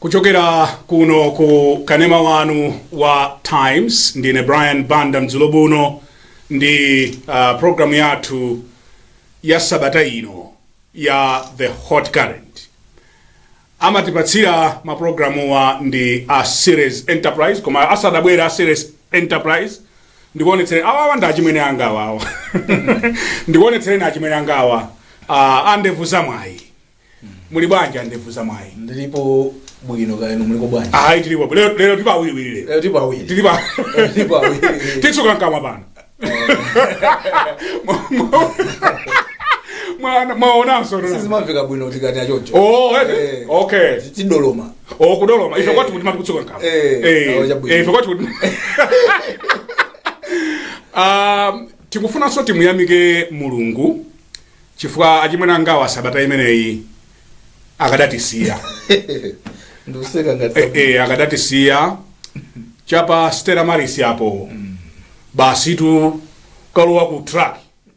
kuchokera kuno ku kanema wanu wa times ndine brian banda madzulo abwino ndi uh, programu yathu ya sabata ino ya the hot current amatipatsira maprogramuwa ndi a series enterprise koma asadabwera a series enterprise ndikuonetsere awa awa ndi achimwene angawa ndikuonetsereni achimwene angawa ah, andevu za mwayi muli bwanji andevu za mwayi ndilipo bwino kaya inu muliko bwanji ayi tilipo bwino. lero lero tilipo awiriwiri lero lero tilipo awiri tilipo tilipo awiri titsuka mkamwa pano Mwa- mwa- mwaonanso sizimamveka bwino tikati achoncho Oh, eh, Eh. okay tidoloma o kudoloma ife kwathu kuti mmati kutsuka mkamwa Eh, Eh, awo chabwino. eh, ife kwathu kuti Um, tikufunanso timuyamike mulungu chifukwa achimwene angawa sabata imeneyi akadatisiya ndikuseka ngati Eh, eh, akadatisiya chapa stella maris apo basitu kalowa ku truck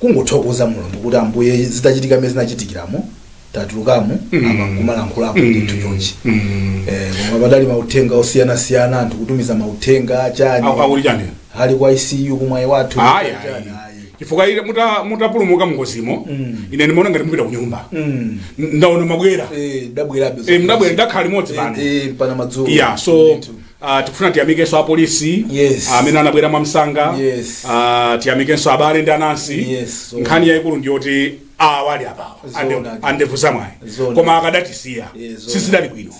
kungothokoza mulungu kuti ambuye zitachitika mene zinachitikiramo tatulukamo Mm. apa nkumalankhulapo Mm. ndithu chonchi Mm. Eh, koma padali mauthenga osiyanasiyana anthu kutumiza mauthenga achani Aku- akuli chani ali ku ICU ku mwaiwathu Ayi, Chani, ayi. ayi. chifukwa ine muta- mutapulumuka mngozimo Mm. ine ndimaona ngati mupita kunyumba Mm. N- ndaona mwabwera Eh, ndabwerabe Eh, ndabwera ndakhala limodzi pano Eh, eh, pano madzulo ya so Ndithu. Uh, tikufuna tiyamikenso apolisi yes. Ah, amene uh, anabwera mwamsanga yes. uh, tiyamikenso abale ndi anansi yes, so. nkhani yayikulu ndi yoti awa ali apawa andevu za mwayi koma akadatisiya yes, so. sizidali bwino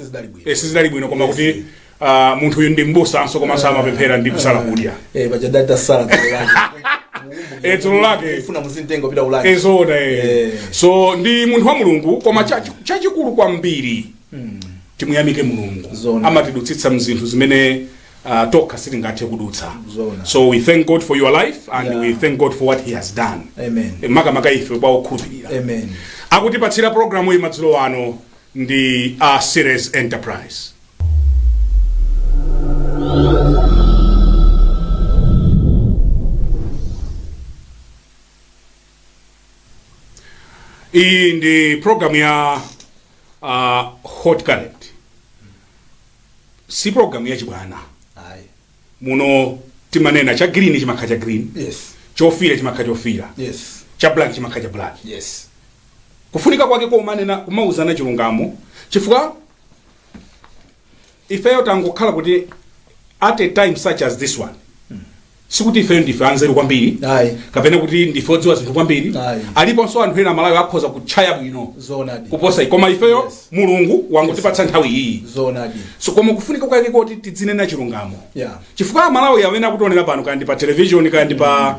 sizidali bwino eh, koma kuti yes. uh, munthu uyu ndi mbusanso komanso amapemphera ndi kusala kudya eh, eh, dzulo lake so ndi munthu wa mulungu koma chachikulu kwambiri timuyamike mulungu Zoona. amatidutsitsa mzinthu zimene uh, tokha sitingathe kudutsa Zoona. so we thank god for your life and Yeah. we thank god for what he has done Amen. Eh, makamaka ife pa okhulupirira Amen. akutipatsira programu iyi madzulo ano ndi a series enterprise iyi ndi programu ya uh, hot current si programu ya chibwana ayi muno timanena cha green chimakhala cha green yes chofira chimakhala chofira yes cha black chimakhala cha black yes kufunika kwake komanena kumauzana chilungamo chifukwa ifeyo tangokhala kuti at a time such as this one sikuti ifeyo ndife anzeru kwambiri Ayi. kapena kuti ndife odziwa zinthu kwambiri Ayi. aliponso anthu ena amalawi akhoza kutchaya bwino zoonadi kuposa ife. koma ifeyo Yes. mulungu wangotipatsa nthawi iyi zoonadi so koma kufunika kwake kuti tidzinena chilungamo yeah chifukwa amalawi amene akutionera pano kandi pa television kandi pa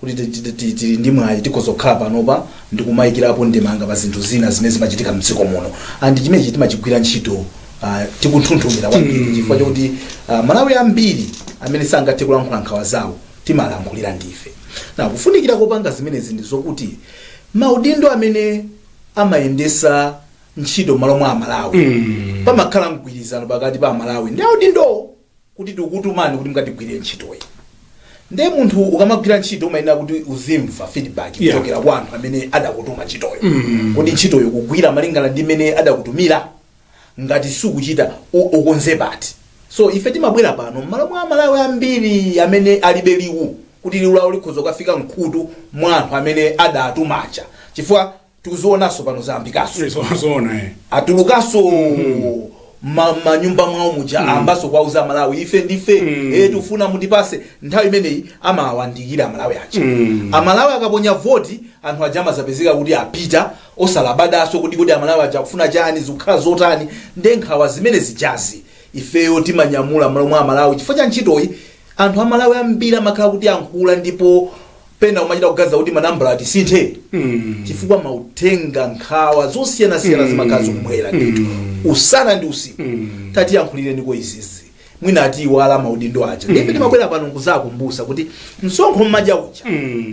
kuti tili ndi mwayi tikhoza kukhala panopa ndikumayikirapo ndemanga pa zinthu zina zimene zimachitika mdziko muno and chimenechi timachigwira ntchito uh, tikunthunthumira kwambiri chifukwa chakuti uh, amalawi ambiri amene sangathe kulankhula nkhawa zawo timalankhulira ndife na kufunikira kopanga zimenezi ndi zokuti maudindo amene amayendesa ntchito malo mwa amalawi pamakhala mgwirizano pakati pa amalawi ndi audindowo kuti tikukutumani kuti mukatigwirire ntchitoyi nde munthu ukamagwira ntchito umayenera kuti uzimva feedback Yeah. kuchokera kwa anthu amene adakutuma ntchitoyo kuti ntchitoyo ukugwira malingana ndi mmene adakutumira ngati sukuchita u- ukonze pati so ife timabwera pano mmalo mwa amalawi ambiri amene alibe liwu kuti liwu lawo likhoza kukafika mkhutu mwa anthu amene adatuma aja chifukwa tikuzionaso pano zayambikaso zoona eh. atulukaso ma- manyumba mwawo muja ambaso kwauza amalawi ife ndi ife Mm. eh, tifuna mutipase nthawi imeneyi amawayandikira amalawi aja Mm. amalawi akaponya voti anthu aja amazapezeka kuti apita osalabadaso kuti kuti amalawi aja akufuna chani zikukhala zotani nde nkhawa zimene zijazi ifeyo timanyamula mmalo mwa amalawi chifukwa cha ntchitoyi anthu amalawi ambiri amakhala akutiyankhula ndipo pena umachita kuganiza kuti manambala tisinthe chifukwa mauthenga nkhawa zosiyanasiyana zimakhala zikubwera ndithu usana ndi usiku tatiyankhulireniko izizi mwina atiiwala amaudindo aja ndipo timabwera pano nkuzakumbusa kuti msonkho mmadya uja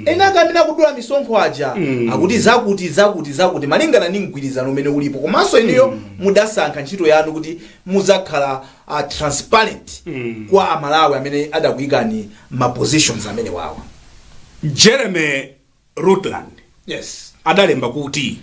eni ake amene akudula misonkho aja akuti zakuti zakuti zakuti malingana ndi mgwirizano umene ulipo komanso inuyo mudasankha ntchito yanu kuti muzakhala transparent kwa amalawi amene adakuyikani ma positions amenewawa jeremy rutland yes adalemba kuti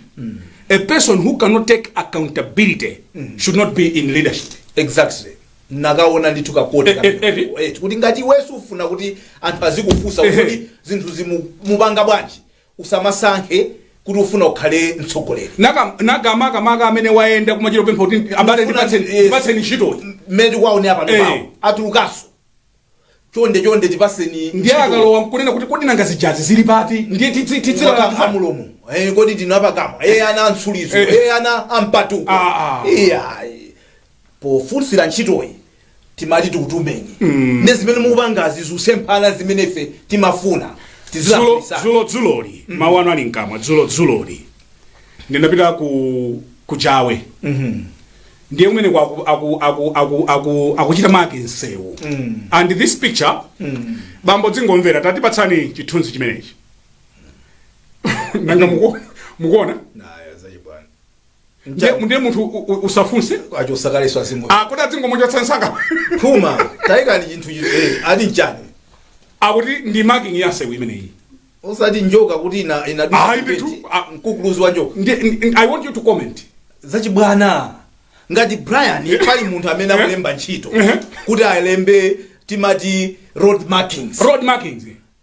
a person who cannot take accountability should not be in leadership exactly ndakakonda ndithu ka quote Eh, eh, eh, eh. kuti ngati iwe sufuna kuti anthu azikufunsa Eh, eh. kuti zinthu zi ukupanga bwanji Usamasankhe kuti ufuna ukhale mtsogoleri. Maka maka maka maka amene wayenda kumachita kupempha kuti abale Ndikufuna- ndipatseni yes. ndipatseni ntchitoyi. Mmene tikuwaonera pano Eh. pawo atulukanso. Chonde chonde tipaseni. Ndiye akalowa nkunena kuti kodi nanga zijazi zili pati? Ndiye titsi titsi la Kutira anthu. mulomo. Eh kodi ndinu apakamwa. Eh ana amtsilizo. Eh. Eh ana ampatuko. Ah, ah. Iya. pofunsira ntchitoyi timati tikutumeni ndi zimene mukupangazi zikusemphana ndi zimene ife timafuna dzulo tizilaisa dzulo dzuloli mawu anu ali mkamwa dzulo dzuloli ndinapita ku Kuchawe ndiye kumene kwa aku- aku- aku- aku- aku- akuchita mark nsewu and this picture bambo dzingomvera tatipatsani chithunzi chimenechi nanga muku- mukuona ndiye ndiye munthu u- u- usafunse achosa kaleso azimu akuti adzingomuchotsa nsanga phuma tayikani chinthu chi- eh, ali nchani akuti ndi marking ya nsewu imeneyi osati njoka kuti ina ina Ayi, ndithu, ah. mkuluzi wa njoka Ndi- ndi- i want you to comment zachibwana ngati brian pali munthu amene akulemba ntchito Mhm. kuti alembe timati road markings road markings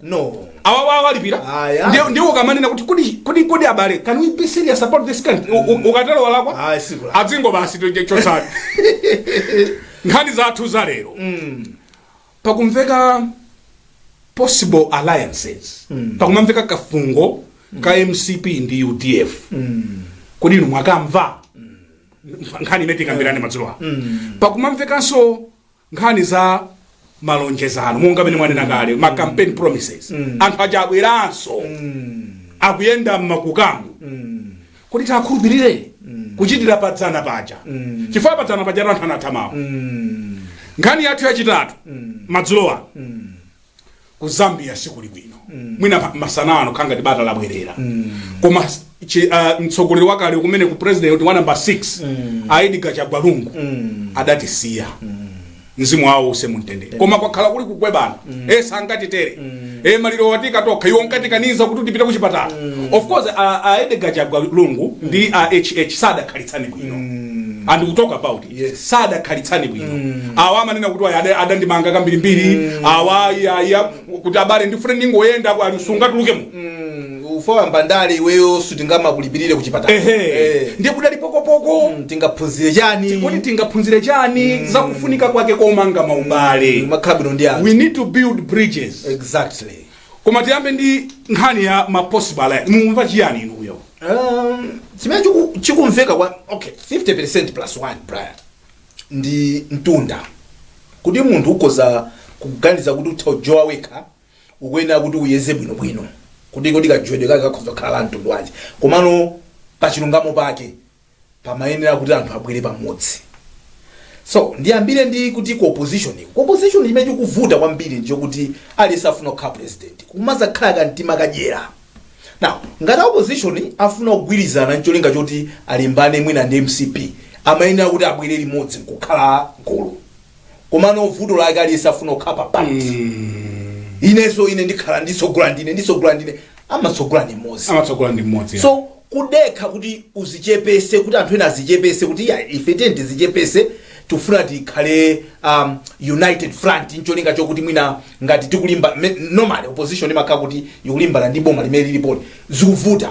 No. Awa awa alipira. Aya. Ndiye ndiye ukamanena kuti kodi kodi kodi abale can we be serious about this country? U- u- Ukatero walakwa? Ayi sikula. Adzingo basi toje chotsali. Nkhani zathu za lero. Pakumveka possible alliances. Pakumamveka kafungo ka MCP ndi UDF. Kodi inu mwakamva? Nkhani imene tikambirane madzulo ano. Pakumamvekanso nkhani za malonjezano monga mmene mwanena kale ma campaign promises mm. anthu aja abweranso mm. akuyenda mmakukamo mm. kodi tiakhulupirire mm. kuchitira padzana paja mm. chifukwa padzana paja anthu anatha mawu mm. nkhani yathu yachitatu mm. madzulo ano mm. ku zambia sikuli bwino mwina pa- masana ano kukhala ngati bata labwerera koma chi- ah, mtsogoleri wakale kumeneku president wa namba 6 Edgar Chagwa Lungu adatisiya mzimu wawo uwuse mumtendere koma kwakhala kuli kukwebana e sangatitere e maliro watika tokha iwo nkatikaniza kuti tipite ku chipatala of course a- a Edgar Chagwa lungu ndi a hh sadakhalitsane bwino and we talk about Yes. sadakhalitsane bwino awa amanena kuti awa ada- adandimanga kambirimbiri awa iyaiya kuti abale ndifuna ndingoyenda ku Arusha tulukemo Mm, ukulowa mu ndale iweyo sitingamakulipirire ku chipatala ehe Eh. ndiye kudali pokopoko Mm, tingaphunzire chani kuti tingaphunzire chani za kufunika kwake komanga maubale abwino ndi anthu we need to build bridges exactly koma tiyambe ndi nkhani ya ma possible alliance mumva chiyani inuyo Um, chimene chiku- chikumveka kwa okay 50% plus 1 brian ndi mtunda kuti munthu ukoza kuganiza kuti utha kujowa wekha ukuyenera kuti uyeze bwinobwino kuti kodi kajowedwe kake kakhoza kukhala la mtundu wanji komano pachilungamo pake pamayenera kuti anthu abwere pamodzi so ndiyambire ndi kuti ku opposition uko ku opposition chimene chikuvuta kwambiri ndichokuti aliyense afuna kukhala president kumazakhala kamtima kadyera now ngati a opposition afuna kugwirizana ncholinga choti alimbane mwina ndi mcp amayenera kuti abwere limodzi nkukhala gulu komano vuto lake aliyense afuna kukhala kuti inenso ine ndikhala nditsogole ndine nditsogole ndine amatsogola ndi mmodzi amatsogola ndi mmodzi so kudekha kuti uzichepese kuti anthu ena azichepese kuti ya ife tiyeni tizichepese tifuna tikhale um, united front ncholinga chokuti mwina ngati tikulimba me- normally opposition imakhala kuti ikulimbana ndi boma limene lilipoli zikuvuta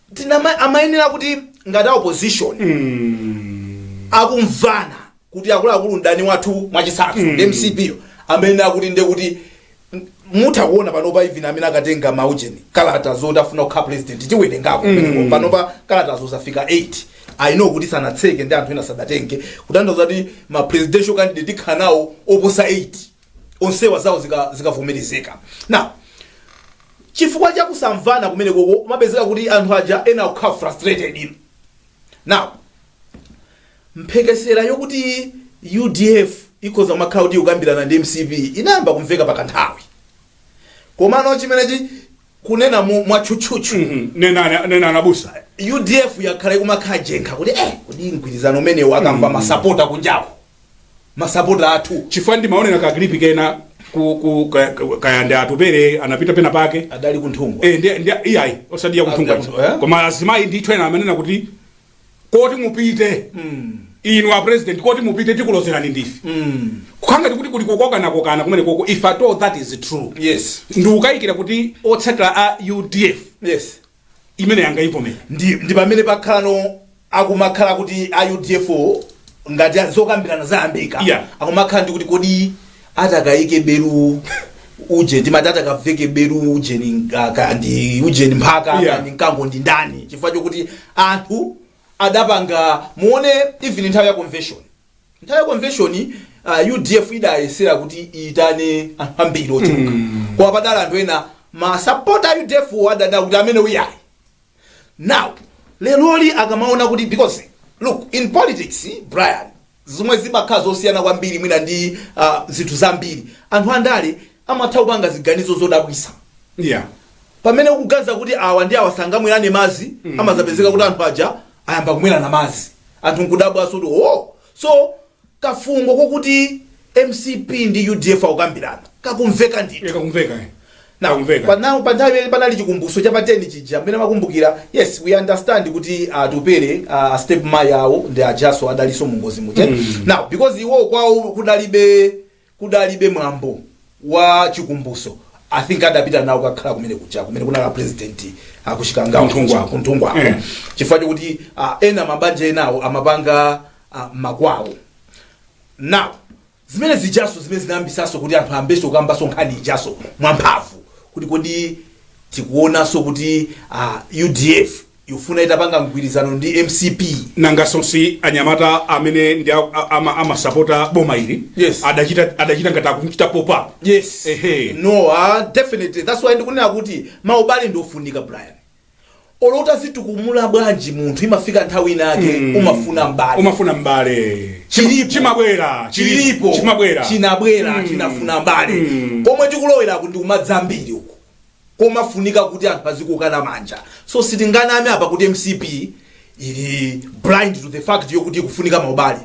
tinama amayenera kuti ngati a opposition akumvana kuti akuluakulu mdani wathu mwachitsanzo ndi mcp yo amayenera kuti nde kuti m- mutha kuona panopa even amene akatenga maujeni kalata zoti afuna kukhala president tikuwerengako mm. panopa kalatazo zafika 8 i know kuti sanatseke ndi anthu ena sadatenge kutanthauza kuti ma presidential candidate tikhala nawo oposa 8 onsewa zawo zika- zikavomerezeka now chifukwa cha kusamvana kumeneko kumapezeka kuti anthu aja ena akukhala frustrated ino now mphekesera yokuti udf ikhoza kumakhala kuti ikukambirana ndi mcp inayamba kumveka pakanthawi komano chimenechi kunena mu- mwatchutchutchu nenani abusa udf yakhala ikumakhala jenkha kuti eh kodi mgwirizano umenewu akamva masapota kunjako masapota athu chifukwa ndimaonera ka clip kena ku, ku ka- ka- kaya ndi atupele anapita pena pake adali kunthungwa Eh, ndi- ndi- iyayi osati kuthunga Adali- eh? koma azimayi ndithu ena amanena kuti koti mupite inu a president koti mupite tikulozerani ndife kukhanga tikuti kuli kokokanakokana kumene koko if at all that is true yes ndikukayikira kuti otsatira a udf yes imene angayivomere ndi, ndi pamene pakhalano akumakhala kuti a udf wo, ngati a- zokambirana zayambika Yeah. akumakhala ndi kuti kodi atakaike belu uje timati atakaveke belu ujeni ah, ka- ndi ujeni mphaka Yeah. yeah. ndi mkango ndi ndani chifukwa chokuti anthu adapanga muone even nthawi ya convention Nthawi ya convention uh, UDF idayesera kuti iitane anthu ambiri ochuluka koma padali anthu ena masapota a UDF wo adadana kuti amene uyayi now leroli akamaona kuti because look in politics brian zomwe zimakhala zosiyana kwambiri mwina ndi uh, zinthu zambiri anthu andale amatha kupanga ziganizo zodabwisa yeah pamene ukuganiza kuti awa ndi awa sangamwelane mazi mm. amazapezeka kuti anthu aja ayamba kumwelana mazi anthu nkudabwaso kuti o so kafungo kokuti mcp ndi udf akukambirana kakumveka ndithu yeah kakumveka eh Now, Kakumveka. pa now- pa nthawi imene panali chikumbutso cha pateni chija mmene makumbukira yes we understand kuti atupere uh, step mai awo ndi ajaso adaliso mungozi muja mm. now because iwo kwawo kudalibe kudalibe mwambo wa chikumbutso i think adapita nawo kukakhala kumene kuja kumene kunali apresident kuchikangawa Kunthungwa. kuja, kunthungwa Eh. chifukwa chokuti ah, ena mabanja enawo amapanga ah, makwawo now zimene zijaso zimene zinayambisaso kuti anthu ambeso kukambaso nkhani ijaso mwamphamvu kuti kodi tikuonaso kuti ah, udf Ikufuna itapanga mgwirizano ndi mcp. Nangaso si anyamata amene ndi amasapota boma ili yes. Adachita, adachita ngati akumuchita pop up yes. Ehe. No, uh, definitely that's why ndikunena kuti maubale ndi ofunika Brian olo utadzitukumula bwanji munthu imafika nthawi inake mm. umafuna mbale umafuna mbale chimabwera chilipo chimabwera chinabwera mm. chinafuna mbale mm. komwe tikulowera kuti kumadzambiri uku komafunika kuti anthu azikokana manja so sitinganame apa kuti mcp ili blind to the fact yokuti ikufunika maubale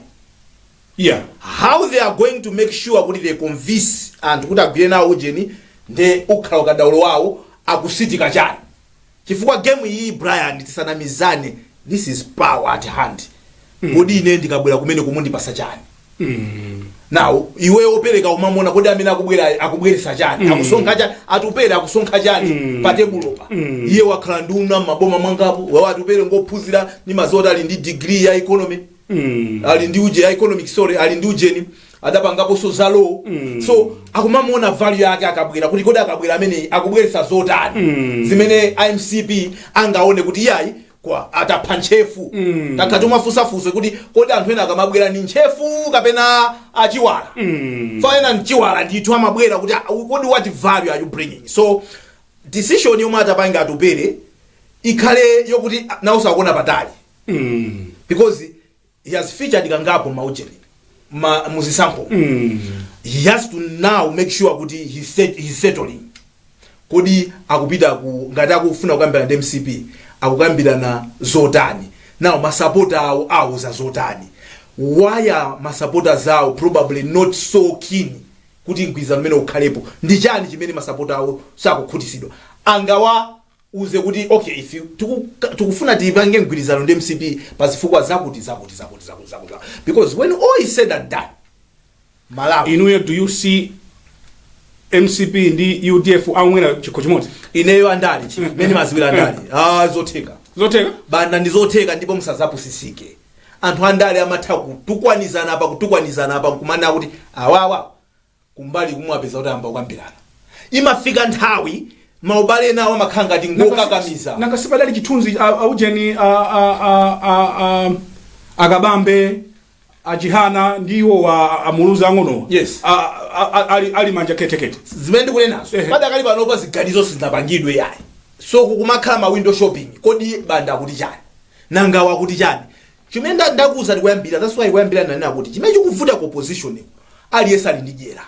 yeah how they are going to make sure kuti they convince anthu kuti agwire nawo ujeni nde ukhala ukadaulo wawo akusitika chani chifukwa game iyi brian tisanamizane this is power at hand kodi ine ndikabwera kumene kumundipasa chani now iwe opereka umamona kodi amene akubwera akubweresa chani akusonkha chani atupere akusonkha chani pa tebulopa iye wakhala nduna mmaboma angapo wawo atupere ngophunzira ndimadziwa zoti ali ndi degree ya economy ali ndi uje ya economic sorry ali ndi ujeni adapangaponso za law so akumamuona value yake akabwera kuti kodi akabwera amene akubweresa zotani zimene mcp angaone kuti iyayi kwa atapha ntchefu mm. takhala timafunsa funso kuti kodi anthu ena akamabwera ni ntchefu kapena achiwala mm. so ena mchiwala ndithu amabwera kuti "Ah, kodi what value are you bringing so decision yomwe atapange atupere ikhale yokuti nawoso akuona patali because he has featured kangapo maujeni ma, muzisankho he has to now make sure kuti he set, he's settling kodi akupita ku ngati akufuna kukambirana ndi mcp akukambirana zotani now masapota awo awauza zotani why are ma supporters awo probably not so keen kuti mgwirizano umene ukhalepo ndi chani chimene masapota awo sakukhutisidwa angawa uze kuti okay if you tiku, tikufuna tipange mgwirizano ndi mcp pa zifukwa zakuti zakuti zakuti zakuti zakuti zakuti. because when all is said and done malawi inuyo do you see mcp ndi udf akumwera chikho chimodzi ineyo andale chi mmene ndimadziwira andale ah zotheka zotheka banda ndi zotheka ndipo musadzapusitsike anthu andale amatha kutukwanizana apa kutukwanizana apa nkumana kuti awawa kumbali kumwapeza kuti ayamba kukambirana imafika nthawi maubale enawo amakhala ngati ngokakamiza nanga si padali chithunzi a- a ujeni a- a- a- a- a- akabambe achihana ndi iwo a- amuluzi ang'onowa Yes. A- a- a- ali- ali manja ketekete zimene ndikunenazo Ehe. padakali panopa ziganizo sizinapangidwe yayi so kumakhala ma window shopping kodi banda akuti chani nangawa akuti chani Chimene nda ndakuuzani koyambirira that's why koyambirira ndinanena kuti chimene chikuvuta ku opposition nkuti aliyense ali ndi dyera.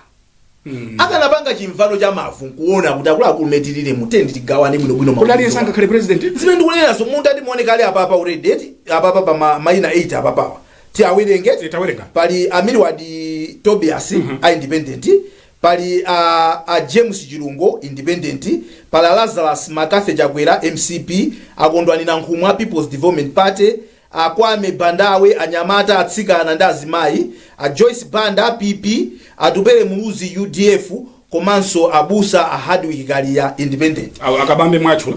Akanapanga chimvano cha mavu nkuona kuti akuluakulu mmene tilili mu tende tigawane bwinobwino kuti mavuto. aliyense angakhale president zimene ndikunenazo mungati muone kale apapa already eti apapa pa ma- mayina 8 apapawa tiwawerenge Eh, tawerenga. pali a Milward Tobias independent Pali a a James Chilungu, Independent, pali a Lazarus McCarthy Chakwera, mcp, a Kondwani Nankhumwa, Peoples Development Party, a Kwame Bandawe, anyamata, atsikana ndi azimayi, a Joyce Banda, PP, Atupele Muluzi, udf, komanso abusa a Hardwick Kaliya, Independent. Awa a Kabambe mwatchula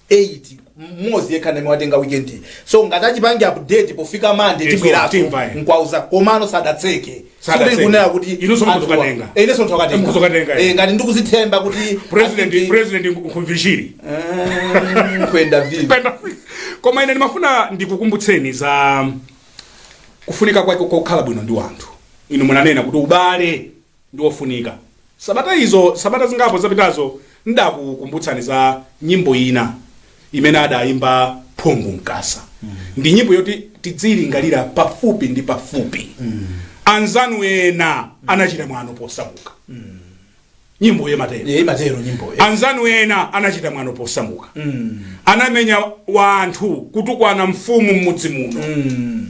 8 mmodzi yekha ndi amene watenga weekend iyi. so ngati achipange update pofika mande Yes, tibweraso tidzamva, eh. nkwauza komano sadatseke Sadatseke. Sikuti kunena kuti Inunso anthuwa- mukukatenga. Eh, inenso ndikukatenga. Mukukatenga, eh. Eh, ngati ndikudzithemba kuti president kuti- president nkhumvishiri Eh, kwenda vile Penda. koma ine ndimafuna ndikukumbutseni za kufunika kwake kokhala bwino ndi wanthu inu munanena kuti ubale ndi wofunika. Sabata izo, sabata zingapo zapitazo, ndakukumbutsani za nyimbo ina imene adayimba Phungu Mkasa. Ndi nyimbo yoti tidziilingalira pafupi ndi pafupi. Anzanu ena anachita mwano posamuka. Nyimboyi imatero. Imatero nyimboyi. Anzanu ena anachita mwano posamuka. Mm. Anamenya wanthu kutukwana mfumu mmudzi muno. Mm.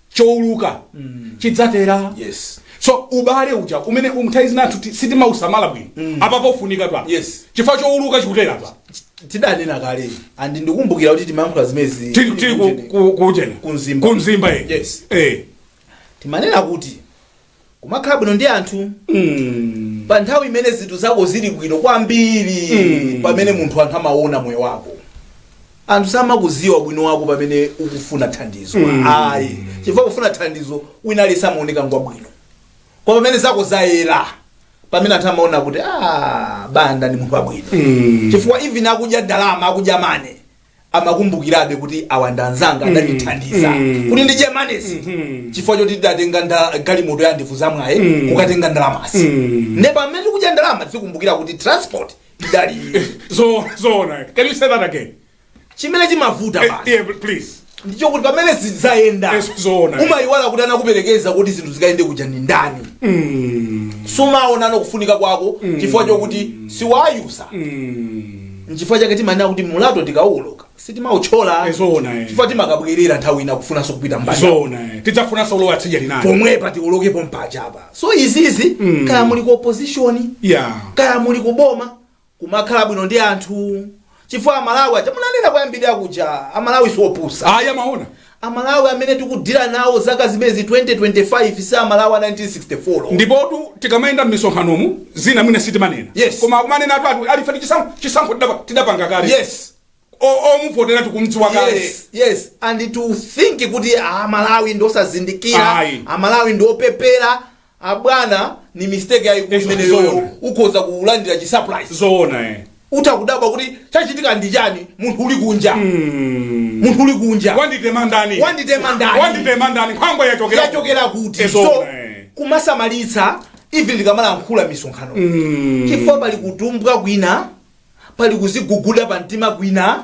chouluka chidzatera Yes. so ubale uja umene nthawi zina ti- sitimausamala bwino apa ukufunika pa Yes. chifukwa chouluka chikutera apa tidanena kale and ndikumbukira kuti timayankhula zimenezi tili tili ku- ku- kuchena Ku Mzimba. ku Mzimba eh. Yes. eh timanena kuti kumakhala bwino ndi anthu Mm. pa nthawi imene zinthu zako zili bwino kwambiri Mm. pamene munthu anthu amaona moyo wako anthu samakudziwa ubwino wako pamene ukufuna thandizo Mm. ayi chifukwa kufuna thandizo wina aliyense amaoneka ngwabwino koma pamene zako zayera pamene anthu amaona kuti "Ah, Banda ndi munthu wabwino Mm. chifukwa even akudya ndalama akudya money amakumbukirabe kuti awa ndi anzanga adandithandiza kuti ndidye money-zi chifukwa choti tidatenga nda- galimoto ya Ndevuzamwayi kukatenga ndalamazi ne pamene tikudya ndalama tizikumbukira kuti transport idali so so na can you say that again chimene chimavuta Eh, basi yeah but please ndicho kuti pamene zidayenda Yes, zoona. umayiwala kuti anakuperekeza kuti zinthu zikayende kuja ndi ndani sumaonano kufunika kwake chifukwa chokuti wayiwala nchifukwa chake timanena kuti mlatho tikauwoloka sitimauthyola Eh, zoona, eh. chifukwa timakabwerera nthawi ina kufunanso kupita mbali zona eh. tidzafunanso kulowa tsidya linali pomwepa tiwolokepo mpaja pa so izizi Mm. kaya muli ku opposition ya kaya muli ku boma kumakhala bwino ndi anthu chifukwa amalawi aja munanena koyambirira kuja amalawi siopusa ayi amaona Amalawi amene tikudealer nawo chaka chimenechi 2025 si amalawi a 1964. Ndipotu tikamayenda mmisonkhanomu zina mwina sitimanena Yes. koma akumanenatu ati ife tichisankho chisankho tidapa- tidapanga kale Yes. O- omuvotera tikumdziwa kale Yes, yes. And to think kuti amalawi ndiosazindikira Ayi. amalawi ndiopepera abwana ni mistake yayikulu Eh, imeneyoyo zoona. ukhoza kulandira chi surprise zoona eh. utha kudabwa kuti chachitika ndi chani munthu uli kunja munthu uli kunja wanditema ndani Wanditema ndani? wanditema ndani nkhwangwa yachokera yachokera kuti Eh, so zoona eh. kumasamalitsa even tikamalankhula m'misonkhano chifukwa pali kutumbwa kwina pali kuziguguda pa mtima kwina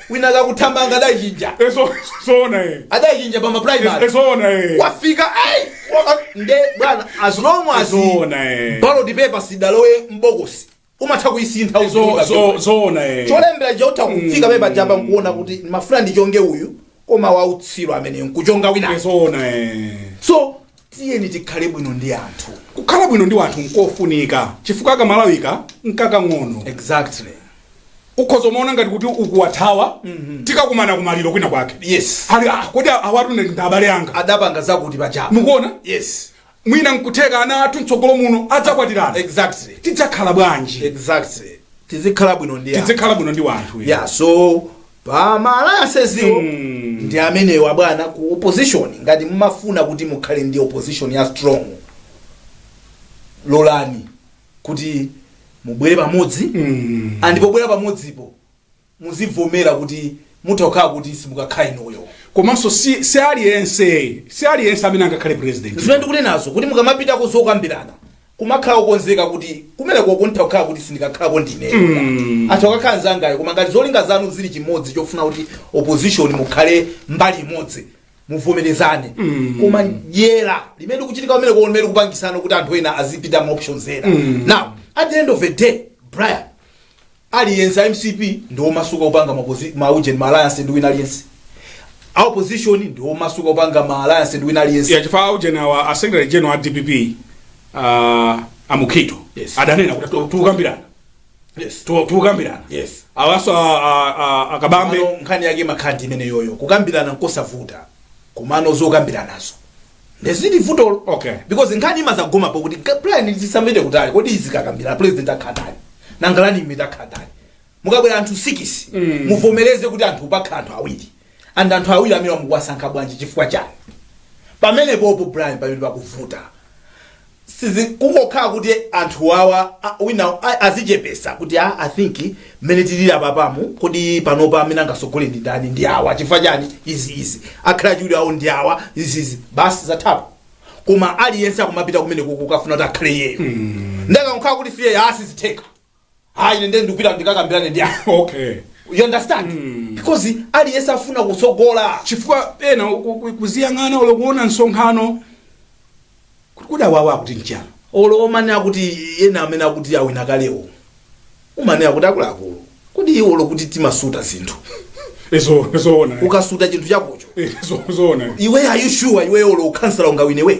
wina akuthamanga adaichinja Eh, so- zoona eh. adaichinja pa Eh, maprimary zoona eh. wafika ai, wa- nde bwana as long as Zoona eh. ballot paper isadalowe mbokosi umatha kuisintha Zo- uziwika zo- ballot. zoona eh. cholembera chotha kufika pepa japa nkuona kuti ndimafuna ndichonge uyu koma wautsiru amene nkuchonga wina Eh, zoona eh. so Tiyeni tikhale bwino ndi anthu. Kukhala bwino ndi wanthu nkofunika chifukwa kamalawika nkakang'ono. Exactly. ukhoza kumaona ngati kuti ukuwathawa tikakumana kumaliro kwina kwake Yes. ali ah, kodi awatu ndi abale anga Adapanga zakuti paja pa. mukuona Yes. mwina nkutheka ana athu mtsogolo muno adzakwatirana Exactly. tidzakhala bwanji Exactly. Tizikhala bwino ndi anthu. tidzikhala bwino ndi wanthu Yeah, so pa ma alliances wo Mm. ndi amenewa bwana ku opposition ngati mumafuna kuti mukhale ndi opposition ya strong lolani kuti mubwere pamodzi Mm. and pobwera pamodzipo muzivomera kuti mutha kukhala kuti simukakhala inuyo komanso si si aliyense si aliyense amene angakhale president zimene ndikunenazo kuti mukamapita kuzokambirana kumakhala okonzeka kuti kumeneko nditha kukhala kuti sindikakhalako ndine atha kukakhala nzangayo koma ngati zolinga zanu zili chimodzi chofuna kuti opposition mukhale mbali imodzi muvomerezane koma dyera limene likuchitika kumeneko limene likupangisana kuti anthu ena azipita ma options ena now at the end of the day brian aliyense a mcp ndi omasuka kupanga ma, posi- ma ujeni ma alliance ndi wina aliyense a opposition ndi omasuka kupanga ma alliance ndi wina aliyense ya chifukwa ujeni awa a secretary general a dpp uh, amukhito Yes. adanena kuti tu- tukambirana yes. Tu- tukambirana Yes. awaso a- a- a- akabambe Komano nkhani yake imakhala imeneyoyo kukambirana nkosavuta komano zokambiranazo ndezili vutolo Okay. because nkhani imazagoma po kuti ga- brian tisapite kutali kodi zikakambirana president akhala ndani nanga running mate akhala ndani mukabwera anthu 6 muvomereze kuti apa pakhala anthu awiri and anthu awiri amenewa mukuwasankha bwanji chifukwa chani pamenepopo brian pamene pakuvuta sizi kungokhala kuti anthu awa a- wina a- azichepesa kuti a i think mmene tilili apapa mu kodi panopa amene angasogole ndi ndani ndi awa chifukwa chani izi izi akhale achiwiri awo ndi awa izi izi basi zathapo koma aliyense akumapita kumeneko kukafuna kuti akhale iyeyo nde akakhala kuti si iyeyo sizitheka ah ine ndiye ndikupita ndikakambirane ndi anthu okay you understand because aliyense afuna kutsogola chifukwa ena ku- ku- kuziyang'ana olo kuona msonkhano kuti kodi awawa akuti nchiyani olo umanena kuti ena amene akuti awina kalewo umanena kuti akuluakulu kodi iwo olo kuti timasuta zinthu izo zoona ukasuta chinthu chakocho Eh, zo- zoona iwe are you sure iwe olo ukhansala ungawineweyo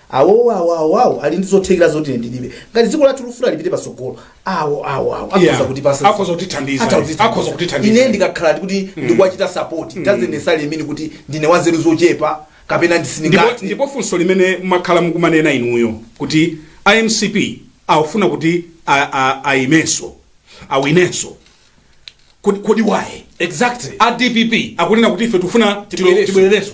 awowo awo awo awo ali ndi zothekera zoti ine ndilibe ngati dziko lathu lufuna lipite patsogolo awo awo awo Yeah. akhoza kutipasa Akhoza kutithandiza. Akhoza kutithandiza. Akhoza kutithandiza. ine ndikakhala kuti ndikuwachita support doesn't necessarily mean kuti ndine wanzeru zochepa kapena ndipo, ndisindikati ndipo funso limene mwakhala mukumanena inuyo kuti a mcp akufuna kuti a- a- ayimenso awinenso kodi kodi waye exactly a dpp akunena kuti ife tufuna Tibwereso. tibwerereso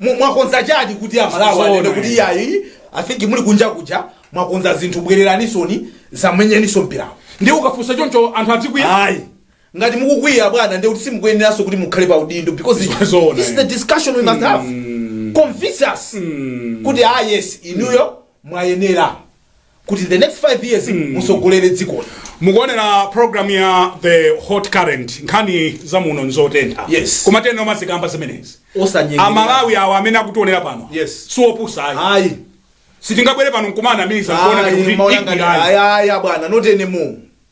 Mu- mwakonza chani kuti a Malawi Zoona anene kuti izi. iyayi i think muli kunja kuja mwakonza zinthu bwereranisoni zamenyaninso mpirawo ndi ukafunsa choncho anthu azikwiya ayi ngati mukukwiya bwana ndekuti simukuyeneranso kuti mukhale pa udindo because it- Zoona, this is the eh. discussion we must have convince us kuti ah yes inuyo mwayenera kuti the next 5 years musogolere dzikoli mukuonera programu ya the hot current nkhani za muno nzotentha Yes. komatu tinaona muzikamba zimenezi osanyengera amalawi awo amene akutionera pano Yes. siopusa ayi ayi sitingabwere pano nkumanamiza kuona ayi kuti ma young'ani ikwira ayi ayi ayi abwana not anymore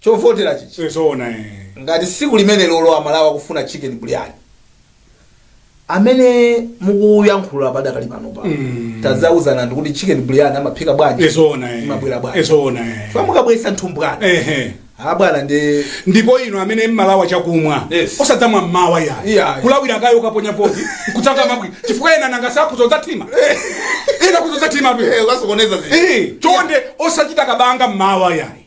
chovotera chija. ee zoona ee. ngati siku limenelolo amalawi akufuna chicken brian amene mukuyankhula padakali panopa Mm. tadzauzana ndikuti chicken brian amaphika bwanji ee zoona ee. Imabwera bwanji. ee zoona ee. Chifukwa mukabwesa nthumbwana ehe a bwana ndi ndipo ino amene mumalawa chakumwa Yes. osadzamwa mmawa Iya. yayi kulawira kaye ukaponya voti kutsaka mabwi chifukwa ena nanga sakhuza udzathima ena kudza udzathimatu ukasokoneza Eh, chonde osachita kabanga mmawa yayi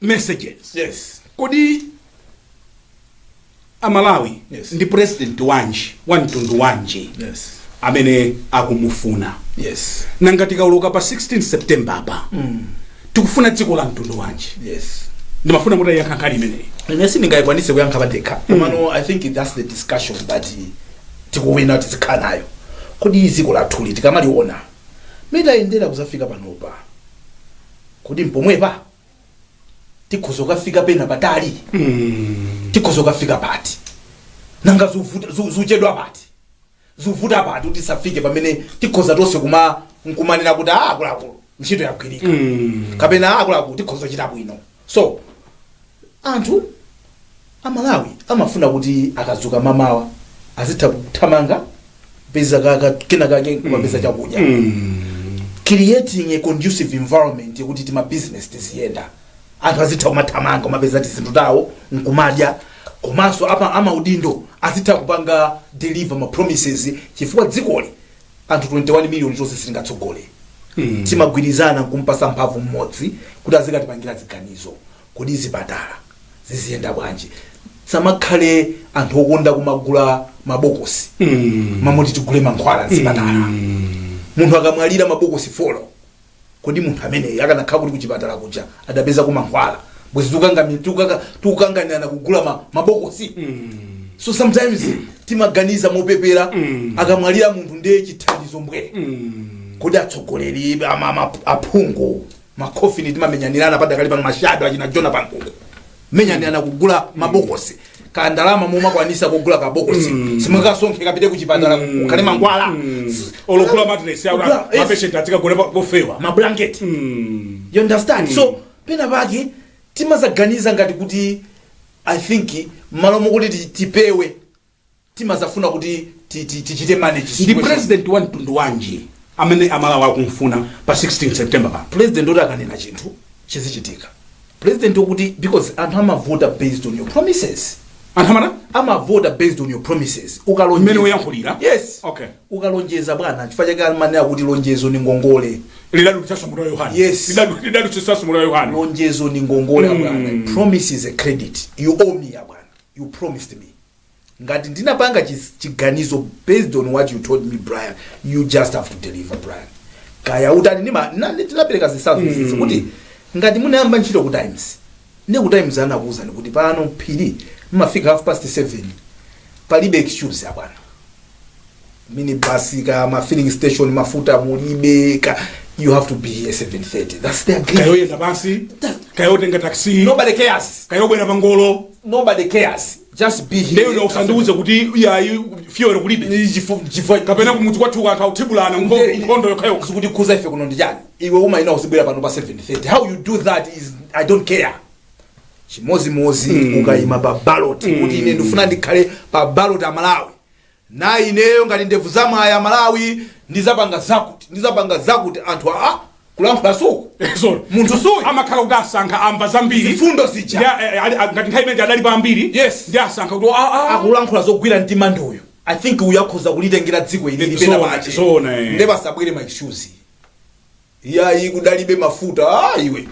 messages yes kodi amalawi Yes. ndi president wanji wa mtundu wanji yes amene akumufuna yes nanga tikauluka pa 16 september apa tikufuna dziko la mtundu wanji yes ndimafuna mutayankha nkhani imeneyi ine sindingayikwanitse kuyankha pandekha komano i think that's the discussion that eh, tikuyenera tizikhala nayo kodi dziko lathuli tikamaliona mmene tayendera kuzafika panopa Kodi mpomwepa? Tikhoza kukafika pena patali? Tikhoza kukafika pati? Nanga zikuvuta zi- zikuchedwa pati? Zikuvuta pati kuti tisafike pamene tikhoza tonse kuma nkumanena kuti ah akuluakulu ntchito yagwirika. Kapena ah akuluakulu tikhoza kuchita bwino. So anthu Amalawi amafuna kuti akadzuka mamawa azitha kuthamanga kupeza ka- ka- kena kake kumapeza chakudya creating a conducive environment yekuti tima business tiziyenda anthu azitha kumathamanga kumapeza tizinthu tawo nkumadya komanso apa amaudindo azitha kupanga deliver ma promises chifukwa dzikoli anthu 21 million tonse sitingatsogole timagwirizana nkumpasa mphamvu mmodzi kuti azikatipangira ziganizo Kodi zipatala ziziyenda bwanji? Tisamakhale anthu okonda kumagula mabokosi mmalo moti tigule mankhwala m'zipatala. Munthu akamwalira mabokosi folo, kodi munthu ameneyo akanakhala kuti kuchipatala kuja adapezako mankhwala? Bwezi tikukangami- tikukaka- tikukanganirana kugula ma- mabokosi? So sometimes timaganiza mopepera akamwalira munthu ndiye chithandizo mbwee. Kodi atsogoleri ama- ama- aphungu makhofini timamenyanirana padakali pano mashado achina jona pankuku kumenyanirana kugula mabokosi ka ndalama mumakwanisa kugula kabokosi simukasonkhe kapite kuchipatala kukhale mankhwala olo kugula matress Kugula- yes. mapeshenti azikagona pofewa mablanketi you understand so pena pake timazaganiza ngati kuti i think mmalo mokuti ti- tipewe timafuna kuti ti- ti- tichite manage ndi situation. president wa mtundu wanji amene amalawi akumfuna pa 16 september pa president woti akanena chinthu chizichitika president wokuti because anthu amavota based on your promises anthu amana amavota based on your promises ukalonjeza Mmene uyankhulira? yes Okay. ukalonjeza bwana chifukwa chake amanena kuti lonjezo ndi ngongole lidadulitsa mutu wa yohane Yes. Lidadu- lidadulitsa mutu wa yohane lonjezo ndi ngongole abwana promise is a credit you owe me abwana you promised me ngati ndinapanga chis- chiganizo based on what you told me brian you just have to deliver brian kaya utani ndima- na- ndi- tinapereka zitsanzo izo kuti ngati munayamba ntchito ku times nde ku times anakuuzani kuti pano phiri mmafika half past 7 palibe excuse abwana minibus ka ma filling station mafuta mulibe ka you have to be here 7:30 that's the agreement kayoyenda pansi kayotenga taxi nobody cares kayobwera pangolo nobody cares just be here ndiye ndiwe usandiuze kuti yayi fuel kulibe Chifu- chifu- kapena kumudzi kwathu anthu akuthibulana Nde- nkhondo yokhayokha zikutikhudza ife kuno ndi chani iwe umayenera uzibwera pano pa 7:30 how you do that is i don't care chimozimozi ukayima pa ballot kuti ine ndifuna ndikhale pa ballot ya malawi na ineyo ngati ndevu za mwayi amalawi ndizapanga zakuti ndizapanga zakuti anthu akulankhula suku Sorry. munthu suyu amakhala kuti asankha amva zambiri mfundo Ndi zija a- eh, ali- a- ngati nthawi imene adali pa ambiri Yes. ndi asankha kuti ah, ah, akulankhula zogwira mtima ndi uyu i think uyu akhoza kulitengera dziko ili Zoona, lipite pena pache zoona, eh. nde pasabwere ma issues iyayi kudalibe mafuta ah, iwe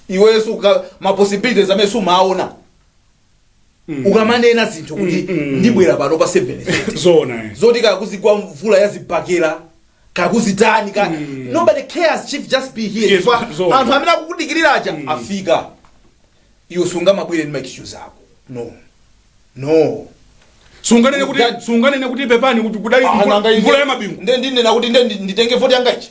iwe sikuti ma possibilities amene sumaona ukamanena zinthu kuti ndibwera pano pa 7 zona eh. zoti kakuzigwa mvula ya zibakera kakuzitani ka nobody cares chief just be here Yes, Chifukwa zona. anthu amene akukudikirira aja afika iwe sungamabwere ndi maexcuse ako no no sunganene kuti That- sunganene kuti pepani kuti kudali mvula- mvula ya mabingu nde ndinena kuti nde ndi- nditenge voti yanga ichi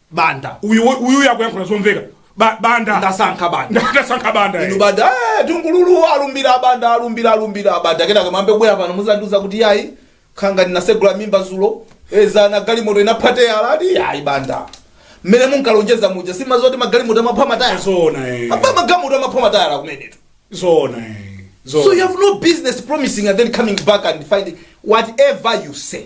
banda uyu uyu akuyankhula zomveka Ba- banda ndasankha banda ndasankha banda inu banda eh, tungululu alumbira abanda alumbira alumbira abanda kenaka mambe kubwera pano muzandiuza kuti yayi nkhanga ndinasegula mimba zulo dzana galimoto inapha tayala ati yayi banda mmene munkalonjeza muja simumadziwa zoti magalimoto amapha matayala zona eh. apa magalimoto amapha matayala kumenetu zona eh. so you zona have no business promising and then coming back and finding whatever you say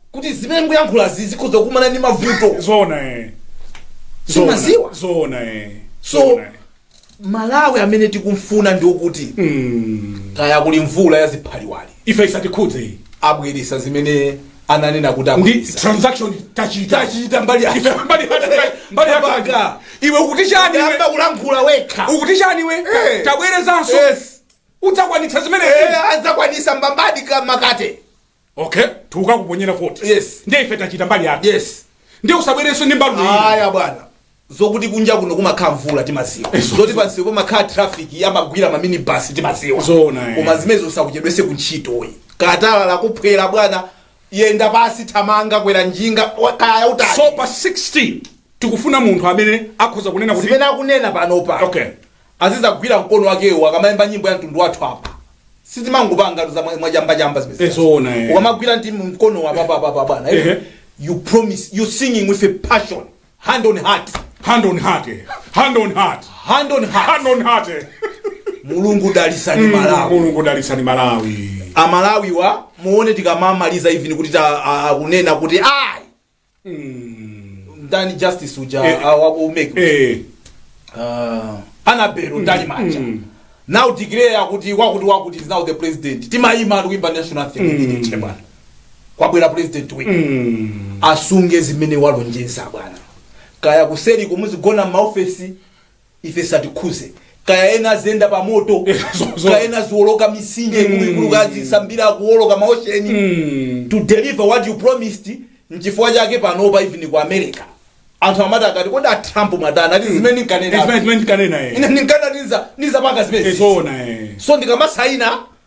kuti zimene mukuyankhulazi zikhoza kukumana ndi mavuto zoona eh. Zoona. Simaziwa. zoona eh. So- Zoona, eh. malawi amene tikumfuna ndi wokuti Mm. kaya kuli mvula ya ziphaliwali ife isatikhudze ayi abweresa zimene ananena kuti abweresa transaction tachita tachita mbali yake. Ife mbali yake, mbali yake. Mpaka. iwe ukuti chani iwe? Yamba kulankhula wekha ukuti chani iwe Eh. tabwerezanso Yes. udzakwanitsa zimene Eh, adzakwanisa mbambadi ka makate okay tikukakuponyera voti Yes. ndiye ife tachita mbali yake yes ndiye usabwerenso ndi mbalume ayi aya bwana zokuti kunja kuno kumakhala mvula timaziwa zoti pansi kumakhala traffic amagwira maminibus timaziwa Zoona, eh. koma zimenezi usakuchedwese kuntchito ayi tayala lakuphwera bwana yenda pasi thamanga kwera njinga wa- kaya utali so pa 16 tikufuna munthu amene akhoza kunena kuti zimene akunena panopa okay Azizagwira mkono wakewo akamaimba nyimbo ya mtundu wathu apa. Sitimangopangatu za mwa- mwachambachamba zimene Eh, zoona, eh. Ukamagwira ndi mkono wa papa papa bwana. eh? Ehe. You promise you singing with a passion. Hand on heart. hand on heart eh. hand on heart Hand on heart. hand on heart eh. Mulungu dalisani Malawi. mulungu dalitsani malawi amalawi amuone tikamamaliza even kuti ta- a- akunena kuti ayi ndani justice uja Eh, ah, wa ku mec eh Ah, anabelo mtalimanja mm. now declare akuti wakuti wakuti is now the president timayima kuimba national anthem mm. che bwana kwabwera president wina mm. asunge zimene walonjeza bwana kaya kuseri muzigona mmaofesi ife zisatikhuze kaya ena aziyenda pa moto Eh, zo- zo- kaya ena aziwoloka mitsinje ikuluikulu kaya azisambira kuwoloka maosheni Mm. to deliver what you promised nchifukwa chake panopa even ku america anthu amati akati kodi a trump mwatani ati zimene Eh, zimene- nkanena zimene nkanena, eh. ine ndinkanena nizapanga Eh, zimene zoona, eh. so ndikamasaina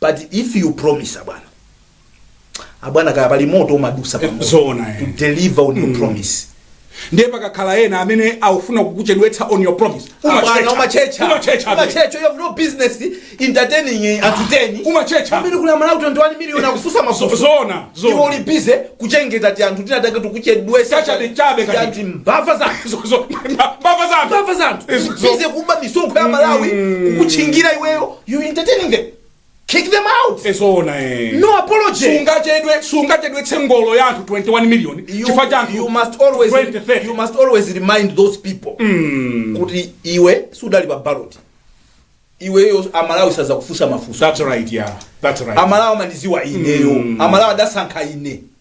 but if you promise abwana abwana kaya pali moto umadusa pa moto. Zoona, eh. to deliver on your promise ndiye pakakhala ena amene akufuna kukuchedwetsa on your promise Abwana, umachecha umachecha umachecha you have no business entertaining anthu 10 Umachecha. amene kuli amalawi 21 million akukufusa mafuso zona iwe uli zona busy kuchengeta ti anthu tinatake tikuchedwesa Chachabe, chabe, kati. ati mbava zanthu Zo- zo- mbava zanthu mbava zanthu Izo- zo- busy kuba misonkho ya amalawi kukuchingira iweyo You entertaining them. Kick them out. zoona eh. No apology. sungachedwe sungachedwetse ngolo ya anthu 21 million You, chifukwa cha anthu you must always 20, 30. you must always remind those people kuti iwe sudali pa ballot. Iweyo amalawi sazakufunsa mafunso. that's right yeah that's right Amalawi amandiziwa ineyo. Amalawi adasankha ine.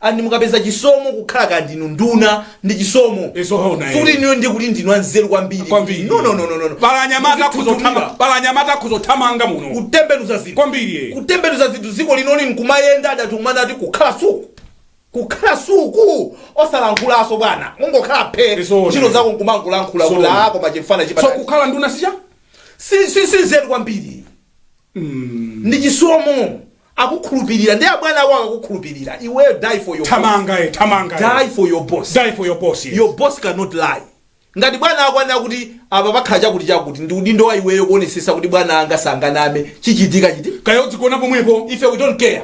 And mukapeza chisomo kukhala kaya ndinu nduna ndi chisomo Eh, zoona, eh. sikuti inuyo ndiye kuti ndinu anzeru kwambiri Kwambiri. no no no no no Pala anyamata akhuza Muzinthunthumira. othamanga- pala anyamata akhuza othamanga muno kutembenuza zinthu kwambiri eh. kutembenuza zinthu dziko linoli nkumayenda adatumana ati kukhala suku kukhala suku osalankhulaso bwana mungokhala phe Eh zoona. ntchito zako nkumangolankhula kuti Eh zoona. ako pachifana so chipata kukhala nduna sicha si si si nzeru kwambiri ndi chisomo akukhulupirira ndi abwana ako akakukhulupirira iweyo die for your thamanga eh, thamanga eh. die for your boss die for your boss yes. your boss cannot lie ngati bwana ako anena kuti apa pakhala chakuti chakuti ndi udindo wa iweyo kuonesesa kuti bwana anga sanganame chichitika chiti kaya udzigona pomwepo ife we don't care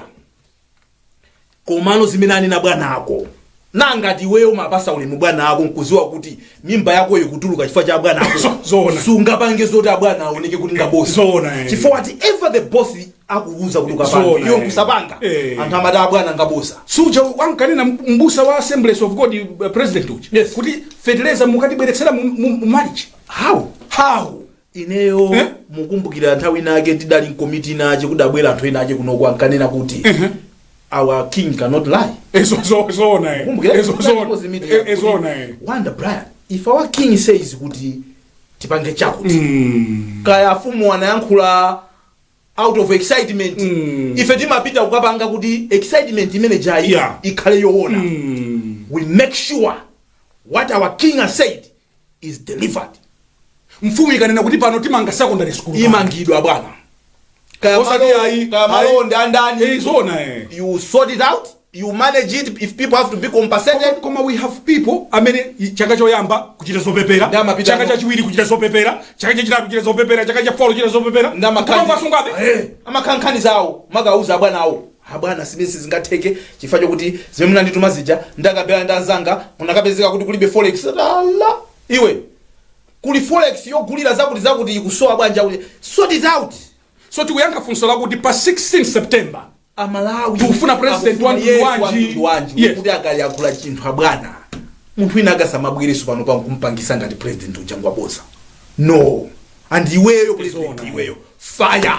komano zimene anena bwana ako na ngati iweyo umapasa ulemu bwana ako nkuziwa kuti mimba yako ikutuluka chifukwa cha bwana ako So- zoona. sungapange zoti abwana aoneke kuti ngaboza Zoona, eh. chifukwa whatever the boss akuuza kuti Zoona, ukapange iweyo eh. nkusapanga Eh. anthu amati abwana ngaboza suja ankanena mbusa wa assemblies of god uh, president uja Yes. kuti feteleza mukatibweretsera mu- mu- mu March how how ineyo Eh? mukumbukira nthawi inake ndidali mkomiti inache kudabwera anthu enache kunoko ankanena kuti our king cannot lie Eh zo zo zoona. kumbukira Ezo zo. Eh zoona. Wonder Brian if our king says kuti tipange chakuti Mm. kaya afumu anayankhula out of excitement Mm. ife timapita kukapanga kuti excitement imene ijayi Yeah. ikhale yoona Mm. we make sure what our king has said is delivered. Mfumu ikanena kuti pano timanga secondary school. Imangidwa bwana. Kaya Osati malo- ayi, kaya ayi. malo ndi andani. Eh, zoona eh. You sort it out. You manage it if people have to be compensated. Koma- koma we have people amene i- chaka choyamba kuchita zopepera Ndi amapita chaka ano. chachiwiri kuchita zopepera chaka chachitatu kuchita zopepera chaka chafolo kuchita zopepera Ndi amakani- Kupangasungabe. Eh, amakhankhani zawo amakauza abwana awo Ah bwana zimenezi sizingatheke chifukwa chokuti zimene munandituma zija ndakabela ndi anzanga munakapezeka kuti kulibe forex ala iwe kuli forex yogulira zakuti zakuti ikusowa bwanja kuti sort it out so tikuyankha funso lakuti pa 16 september amalawi Tikufuna president wa mtundu wanji? wanji Yes. kuti akayankhula chinthu abwana munthu wina akasamabwereso pano pa kumpangisa ngati president uja ngwaboza no and iweyo president iweyo fire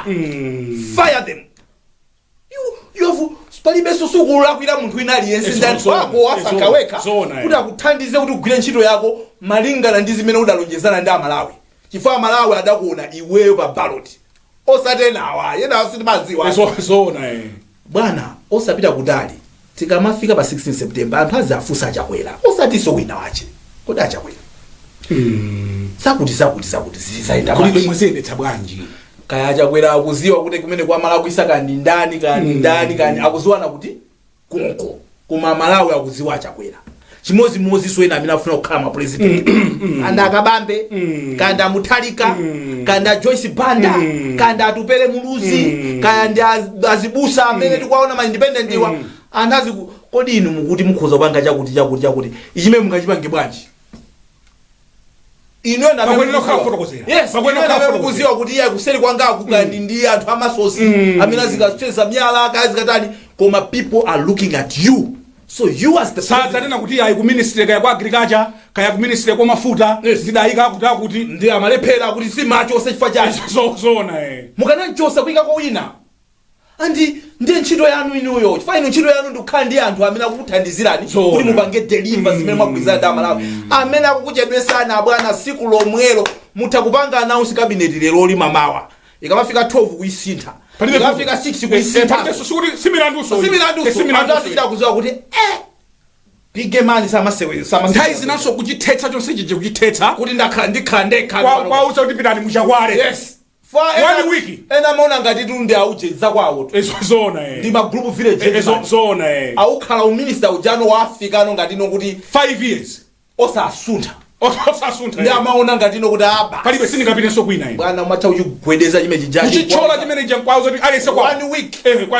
fire them you have palibenso sukulakwira munthu wina aliyense Ezo, ndi anthu zoona, ako wasankha ezo, wekha zoona, kuti eh. akuthandize kuti ugwire ntchito yako malingana ndi zimene udalonjezana ndi amalawi chifukwa amalawi adakuona iweyo pa baloti osati enawa enawa sitimadziwa Ezo- zoona eh. bwana osapita kutali Tikamafika pa 16 September anthu azafunsa achakwera osatinso wina wache kodi achakwera zakuti zakuti zakuti zizayenda bwanji? mwaziyendetsa bwanji kaya achakwera akuziwa kuti kumene kwalakwitsa kani ndani kani ndani kani akuziwana kuti konko koma amalawi akuziwa achakwera chimodzimodzinso ena amene akufuna kukhala mapurezidenti kaya ndi akabambe kaya ndi a mutharika kaya ndi a joyce banda kaya ndi atupele muluzi kaya ndi az- azibusa amene tikuwaona ma independentwa anthu aziti kodi inu mukuti mukhoza kupanga chakuti chakuti chakuti ichimene mungachipange bwanji inu ena Pamene amene lokhala kufotokozera. Yes, Pamene inu ena lokhala amene kufotokozera. mukuziwa kuti iye kuseri kwanga kukhala ndi anthu amasosi Mm. amene azikageza miyala kaya azikatani koma people are looking at you so you as the president- usadzanene kuti ayi ku ministry kaya kwa agriculture kaya ku ministry kwa mafuta Yes. ndidayika akuti akuti ndiye amalephera kuti sumachotsa chifukwa chani So- zoona eh mukanamchotsa kuyikako wina andi ndiye ntchito yanu inuyo chifukwa inu ntchito yanu ndikukhala ndi anthu amene akukuthandizirani Zoona. kuti mupange deliver zimene mwagwirizana ndi amalawi amene akukuchedwetsani abwana siku lomwelo mutha kupanga announce cabinet lero lino mamawa ikamafika 12 kuisintha Palibe ikamafika vuto. 6 Eh, kuisintha palibe so- sikuti simlandunso uwu. Eh, simlandunso simlandunso anthu achita kuziwa kuti eh big man samasewera samasewera nthawi zinanso kuchithetsa chonse chija kuchithetsa kuti ndakhala ndikhala ndekha kwa- kwauza kuti pitani mukhale yes Fa ena- One week. ena amaona ngatitu ndi aujeni akwawotu Izo zoona eh. ndi ma group village Izo gentleman. zoona eh. awukhala uminista ujano afikano ngati ndiye kuti 5 years. osasuntha Osasuntha. ndi eh. amaona ngati ino kuti apa Palibe sindingapitenso kwina ine. bwana umatha kuchigwedeza chimene chijachi Kuchichola chimene chankwawo kuti areste kwa one week Eh, kwa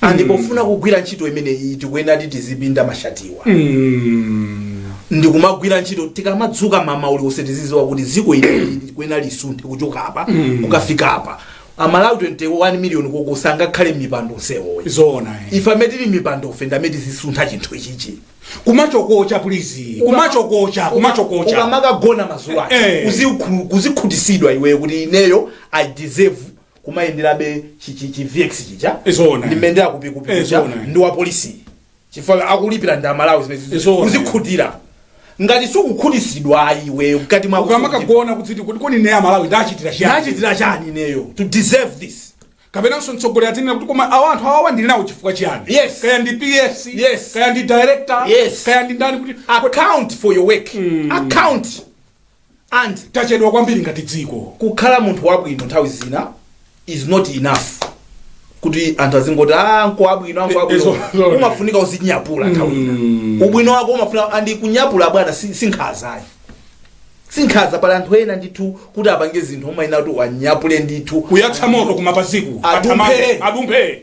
and pofuna kugwira ntchito imeneyi tikuyenera kuti tizipinda mashatiwa ndikumagwira ntchito tikamadzuka mmawa uliwonse tiziziwa kuti dziko ili likuyenera lisunthe kuchoka apa kukafika apa amalawi 21 miliyoni uko sangakhale m'mipando onsewo ayi zoona eh. ife amene tili m'mipando ife ndi amene tizisuntha chinthu ichichi kumachikocha please kumachikocha kumachikocha ukamakagona madzulo Eh. kuzikhutisidwa iweyo kuti ineyo i deserve kumayenderabe chi- chi- chi vx chija Zoona. ndi mmene akupita Eh, uja zoona. ndi wa polisi chifukwa akulipira ndi amalawi zimene zizi- Zoona. kuzikhutira ngati sukukhutisidwa iwe mkati mwako ukamakagona uziti kuti kodi ine amalawi ndachitira chiyani nachitira chani ineyo to deserve this kapenanso mtsogoleri azinena kuti koma awa anthu awawa ndili nawo chifukwa chiyani Yes. kaya ndi ps Yes. kaya ndi director Yes. kaya ndi ndani kuti account for your work account and tachedwa kwambiri ngati dziko. Kukhala munthu wabwino nthawi zina is not enough kuti anthu azingoti ah ngabwino ngabwino Izo- izo- umafunika uzinyapulako nthawi ina ubwino wako umafunika andi kunyapula bwana si- sinkhaza ayi sinkhaza pali anthu ena ndithu kuti apange zinthu umayenera kuti uwanyapule ndithu kuyatsa moto kumapaziku Adumphe. atakatake adumphe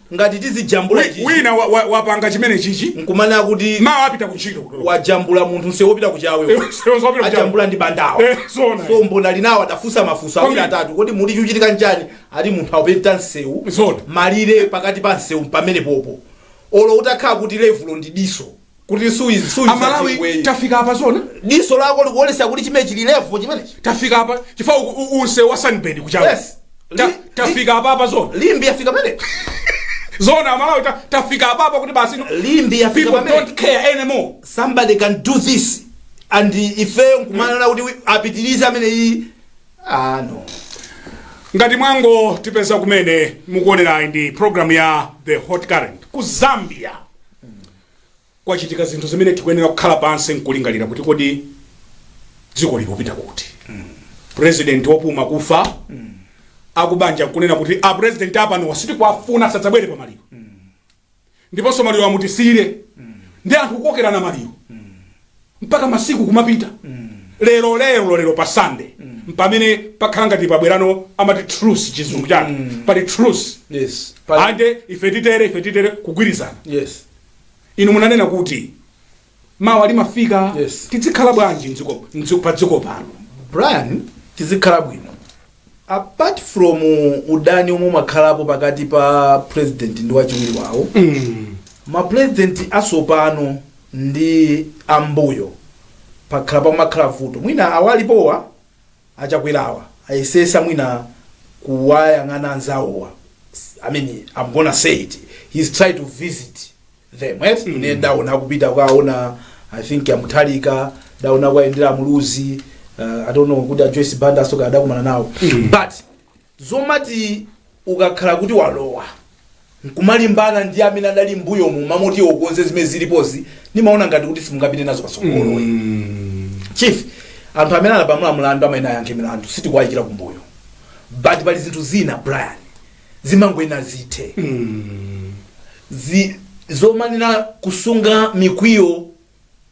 Ngati tizijambula ichichi. Wina wa, wa, wapanga chimene chichi. Nkumanena kuti. Mawa apita kuntchito. Wajambula munthu msewu wopita ku Chawe. Msewu wopita ku Chawe. Ajambula ndi Bandawe. Eh, zoona. So mbona winawo adafusa mafunso awiri atatu. Kodi muli chuchitika nchani. Ali munthu aupenta msewu. Zoona. Malire pakati pa msewu mpamenepopo. Olo utakhala kuti levulo ndi diso. kuti suizi suizi amalawi chingwenye. tafika apa zoona diso lako likuonesa kuti chimene chili levo chimenechi tafika apa chifukwa u- u- nsewu wa sunbird ku chawe Yes. Ta- Li- tafika apa apa zoona limbi yafika pamene zoona amalawi ta- tafika apa apa kuti basi no- limbi yafika people pamene don't care anymore somebody can do this and ifeyo nkumanena kuti wi- apitirize amene iyi ah no ngati mwangotipeza kumene mukuonerayi ndi programu ya the hot current ku zambia kwachitika zinthu zimene tikuyenera kukhala pansi nkulingalira kuti kodi dziko likupita kuti president wopuma kufa akubanja nkunena kuti a president apanowa sitikwafuna sadzabwere pa maliro ndiponso maliro amutisiyire ndi anthu kukokerana maliro mpaka masiku kumapita lero lero lero pa sunday mpamene pakhala ngati pabwerano amati truce chizungu chake pali truce yes pa, ande ife titere ife titere kugwirizana yes inu munanena kuti mawa limafika Yes. tidzikhala bwanji mdziko- mdziko- pa dziko pano brian tizikhala bwino apart from udani omwe umakhalapo pakati pa president ndi wachiwiri wawo ma president asopano ndi ambuyo pakhala pamakhala vuto mwina awalipowa achakwerawa ayesesa mwina kuwayang'ana anzawowa i mean i'm gonna say it he's tried to visit them mm. ine ndaona kupita kwaona i think a mutharika ndaona kwayendera muluzi uh, i don't know kuti a joyce banda asoka adakumana nawo mm. but zomati ukakhala kuti walowa nkumalimbana ndi amene adali mbuyomu mmalo moti ukonze zimene zilipozi ndimaona ngati kuti simungapite nazo patsogolo mm. chief anthu amene anapalamula mlandu amayenera ayankhe milandu sitikuwayikira kumbuyo but pali zinthu zina brian zimangoyenera zithe Zi- zomanena kusunga mikwiyo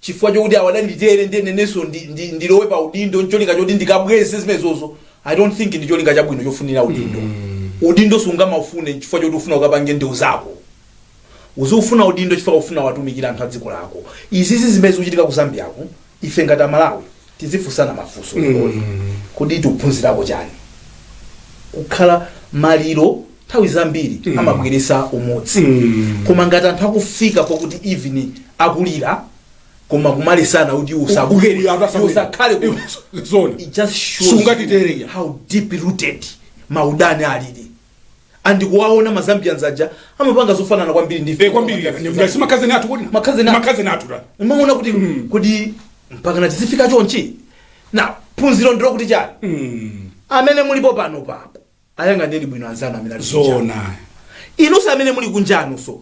chifukwa chokuti awa adanditere nde inenso ndi- ndi- ndilowe pa udindo ncholinga choti ndikabweze zimenezozo i don't think ndi cholinga chabwino chofunira udindo udindo sungamaufune chifukwa choti ufuna ukapange ndewu zako uziufuna udindo chifukwa ufuna watumikira anthu a dziko lako izizi zimene zikuchitika ku zambiako ife ngati amalawi tizifunsana mafunso leroli kodi tikuphunzirako chani kukhala maliro nthawi zambiri amabweresa umodzi koma ngati anthu akufika pokuti even akulira koma kumalesana kuti Uyu usabwere atasamira. usakhale ku Zone. it just shows Sungatitere ya. how deep rooted maudani alili and kuwaona ma Zambians aja amapanga zofanana kwambiri ndife kwambiri ngati simakhazeni athu kodi Makhazeni athu. makhazeni athu timaona kuti kodi mpakana tizifika chonchi na phunziro ndi lokuti chani amene mulipo panopapo ayang'aneni bwino anzanu amene ali kunja. zoona inuso amene muli kunjanuso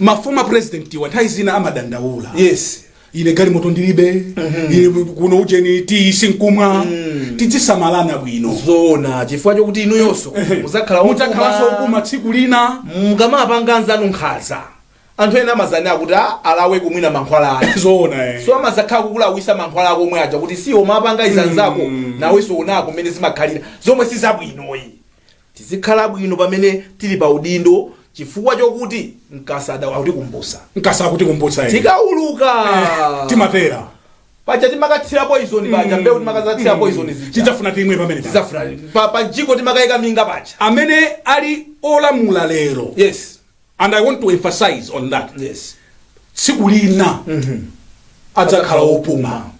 ma former presidentiwa nthawi zina amadandaula yes ine galimoto ndilibe ine kuno ujeni tiyi sinkumwa tidzisamalana bwino zoona chifukwa chokuti inuyonso mudzakhala mudzakhalanso opuma. opuma tsiku lina mukamapanga anzanu nkhaza anthu ena amazanena kuti "Ah, alaweko mwina mankhwala ake zoona eh. so amazakhala kukulawisa mankhwala ako omwe aja kuti si umawapanga izi anzako nawenso onako mmene zimakhalira zomwe si zabwinoyi Tizikhala bwino pamene tili pa udindo chifukwa chokuti mkasa adawu akutikumbusa. Mkasa akutikumbutsa eti. Tikauluka. Eh, timatera. Paja timakathira poison paja mbewu timakazathira poison zija. Tidzafuna timwe pamene paja. Tidzafuna. Pa, pa mjigo timakaika minga paja. Amene ali olamula lero. Yes. and i want to emphasize on that yes tsiku lina adzakhala opuma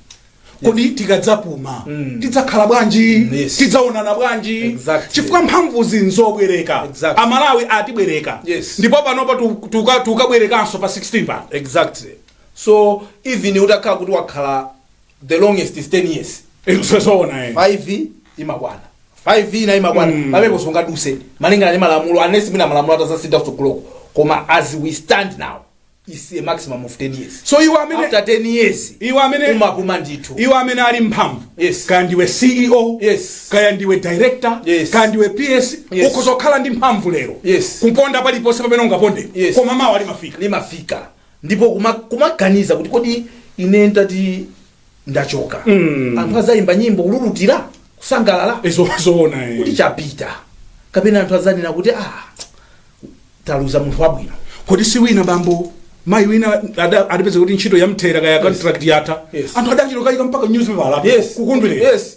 kodi tikadzapuma tidzakhala bwanji Yes. tidzaonana bwanji Exactly. chifukwa mphamvuzi nzobwereka Exactly. amalawi atibwereka Yes. ndipo panopa tu- tuka- tukabwerekanso pa 16 pa exactly so even utakhala kuti wakhala the longest is 10 years Izo zoona eh. 5 imakwana 5 ina imakwana mm. pamenepo sungaduse malingana ndi malamulo unless mwina malamulo atazasintha kutsogoloko koma as we stand now is a maximum of 10 years So iwe amene after 10 years iwe amene umapuma ndithu iwe amene ali mphamvu Yes. kaya ndiwe ceo Yes. kaya ndiwe director Yes. kaya ndiwe ps Yes. ukuzokhala ndi mphamvu lero Yes. kuponda paliponse pamene ungaponde Yes. koma mawa limafika limafika ndipo kuma- kumaganiza kuti kodi ine ndati ndachoka Mm. anthu azayimba nyimbo kululutira kusangalala Izo zoona eh. kuti chapita kapena anthu azanena kuti ah taluza munthu wabwino kodi si wina bambo mayi wina ada- adapeza kuti ntchito yamthera kaya contract yatha Yes. anthu adachitokayika mpaka newspaper Yes. kukondwerera Yes.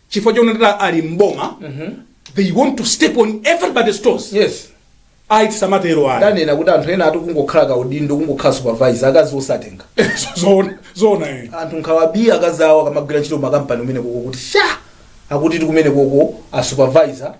chifukwa chonena kuti ali mboma they want to step on everybody's toes yes ayi tisamatero ayi ndanena kuti anthu ena ati kungokhala kaudindo kungokhala supervisor akazi osatenga zoona zoona eh. anthu nkhawa bii akazi awo akamagwira ntchito makampani kumenekoko kuti sha akuti ti kumenekoko a supervisor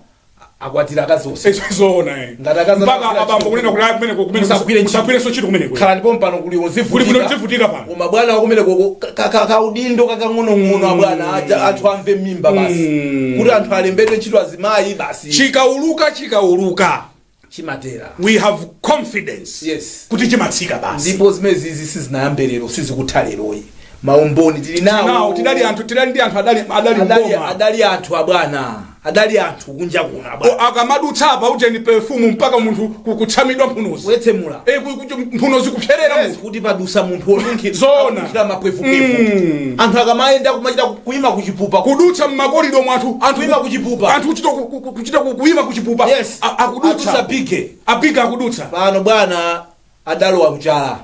akwatira akazi onse Izo zoona eh. Ngati akazi Mpaka anakula abambo chiko. kunena kuti ayi kumeneko kumeneko Musagwire ntchito. musagwirenso ntchito kumeneko. khalani pompano kuli Kuli kuno uzivutika tivutika pano. koma bwana wakumenekoko ka- ka- ka- kaudindo kakang'onong'ono abwana aja anthu amve mmimba basi Mm. kuti anthu alembedwe ntchito azimayi basi Chikauluka chikauluka. chimatera. We have confidence Yes. kuti chimatsika basi. ndipo zimenezizi sizinayambe lero sizikutha leroyi maumboni tili Now nawo tidali anthu tidali ndi anthu adali adali adali, ngoma. adali anthu abwana adali anthu kunja kuno O, abwana akamadutsa apa ujeni perfume mpaka munthu ku- kutsamwidwa mphunozi. wetsemula Eh ku- ku- mphunozi kupserera Yes, munthu. kuti padutsa munthu onunkhira Zoona. onunkhira mapwefukefu Mm. anthu akamayenda kumachita ku- kuima kuchipupa ku- Kudutsa mmakolido mwathu anthu Kuima kuchipupa. Anthu kuchita ku- ku- kuchita ku- kuima kuchipupa. Yes. A- akudutsa Atha. bige abige akudutsa pano bwana adalowa kuchala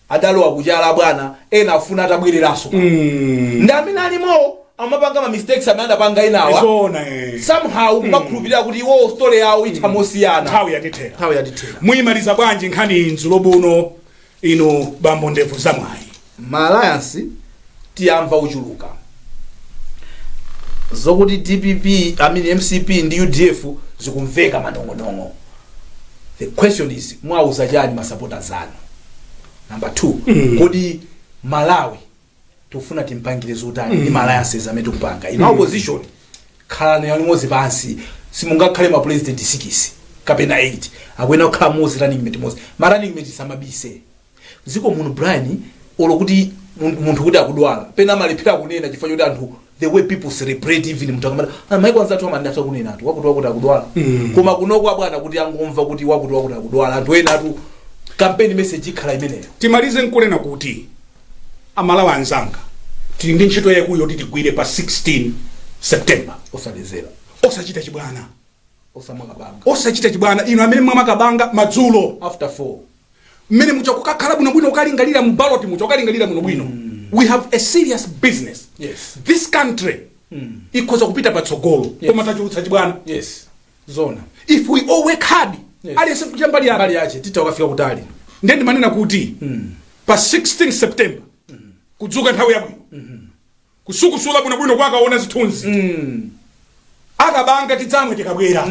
adalowa kuchala bwana ena afuna atabwereranso ndi amene alimowo amapanga ma mistakes amene adapanga enawa zona eh. somehow kumakhulupirira kuti iwo story yawo itha mosiyana nthawi yatithera nthawi yatithera muyimaliza bwanji nkhani nzulo buno Inu bambo ndevu za mwayi. ma alliance tiamva ochuluka zokuti dpp I mean mcp ndi udf zikumveka manong'onong'o the question is mwauza chani ma supporters anu number two kodi malawi tikufuna timpangire zotani ndi ma alliances amene tikupanga inu opposition khalani limodzi pansi simungakhale ma president 6 kapena 8 akuyenera kukhala mmodzi running mate mmodzi ma running mate asamabise m'dziko muno brian olo kuti mun- munthu kuti akudwala pena amalephera kunena chifukwa choti anthu the way people celebrate even munthu akamati "Ah, maiko anzathu amatha kunena ati wakuti wakuti akudwala koma kunoko abwana kuti angomva kuti wakuti wakuti akudwala anthu ena ati campaign message ikhala imeneyo timalize nkunena kuti amalawi anzanga tili ndi ntchito yaikulu yoti tigwire pa 16 september osalezera osachita chibwana osamwa kabanga osachita chibwana inu amene mwamwa kabanga madzulo after 4 mmene muja ukakhala bwinobwino ukalingalira mu ballot muja ukalingalira bwinobwino we have a serious business Yes. this country ikhoza kupita patsogolo koma tachulutsa chibwana yes zoona if we all work hard Yes. aliyense kuchita mbali yake mbali yache titha kukafika kutali ndiye ndimanena kuti pa 16 september kudzuka nthawi yabwino kusukusula bwinobwino kukaona zithunzi akabanga tidzamwe tikabwera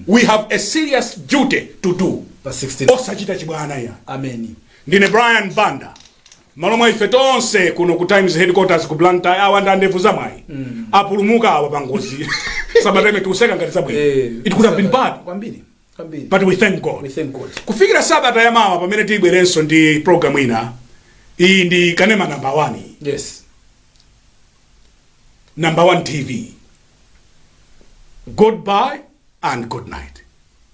we have a serious duty to do pa 16 osachita chibwana ya ameni ndine brian banda Mmalo mwa ife tonse kuno ku Times headquarters ku Blantyre awa ndi andevu za mwayi. Apulumuka awa pa ngozi. Sabata ino tikuseka ngati zabwino. Eh, It could have been bad, Kwambiri. Kwambiri. but we thank God. We thank God. kufikira sabata ya mawa pamene tibwerenso ndi program ina iyi ndi kanema namba 1 Yes. namba 1 tv goodbye and good night